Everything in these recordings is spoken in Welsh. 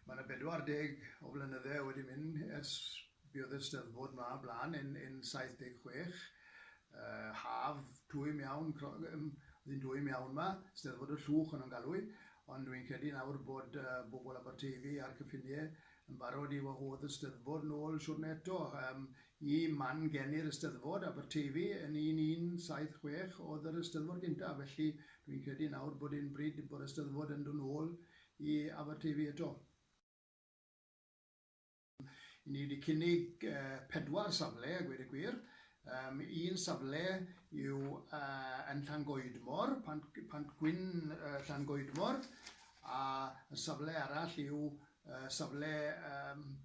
Mae 'na 40 o flynydde wedi mynd ers buodd y Steddfod 'ma blaen yn yn 76. Yy haf twym iawn clo- yym o'dd 'i'n dwym iawn 'ma, Steddfod y Llwch o'n nhw'n galw 'i, ond dwi'n credu nawr bod yy bobl Aberteifi a'r cyffinie Yn barod i wahodd y Steddfod nôl siwrne eto. Yym, i man geni'r Eisteddfod, Aberteifi, yn un un saith chwech oedd yr Eisteddfod gynta, felly dwi'n credu nawr bod e'n bryd bo'r Eisteddfod yn dod nôl i Aberteifi eto. Yy, ni wedi cynnig yy pedwar safle a gweud y gwir. Yym, un safle yw yy yn Llangoedmor, Pant Pant Gwyn yy Llangoedmor, a y safle arall yw safle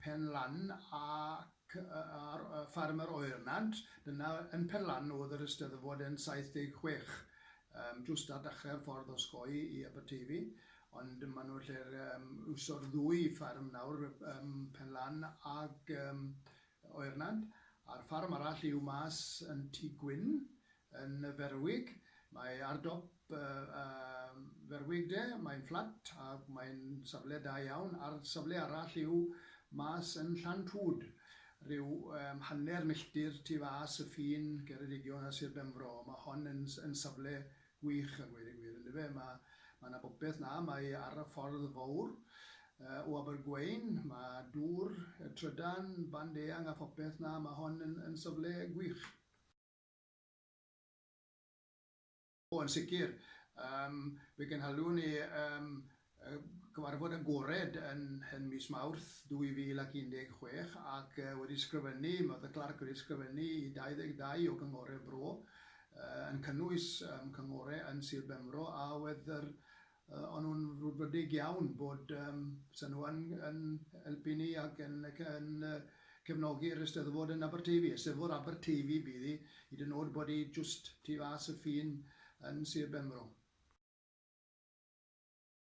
Pen Lan ac ar ffarm yr Oernant. Dyna, yn Pen Lan o'dd yr Eisteddfod yn 76, jwst ar dachre'r ffordd osgoi i Aberteifi, ond ma' nhw'n lle'r iwso'r ddwy ffarm nawr, Pen Lan ag Oernant, a'r ffarm arall yw mas yn Tŷ Gwyn, Yn ferwig, mae ar dop y ferwig de, mae'n fflat ac mae'n safle da iawn, a'r safle arall yw mas yn Llantwd, rhyw hanner milltir tu fas y ffin Ceredigion a Sir Benfro. Mae hon yn yn safle gwych a gweud y gwir, yndyfe? Mae mae 'na bopeth 'na, mae ar y ffordd fowr o Abergwein, mae dŵr, trydan, band eang a phopeth 'na, mae hon yn yn safle gwych. O, yn sicr. Yym, fe gynhaliwn ni yym y gyfarfod agored yn yn mis Mawrth 2016 ac yy wedi sgrifennu, ma' The Clerk wedi sgrifennu i 22 o gynghore'r Bro, yy yn cynnwys yym cynghore yn Sir Benfro a oedd yr Yy, o'n nhw'n frwdfrydig iawn bod yym 'sa nhw yn yn helpu ni ac yn ac yn yy cefnogi'r Eisteddfod yn Aberteifi. Eisteddfod Aberteifi bydd hi, hyd yn o'd bod hi jwst tu fas y ffin yn Sir Benfro.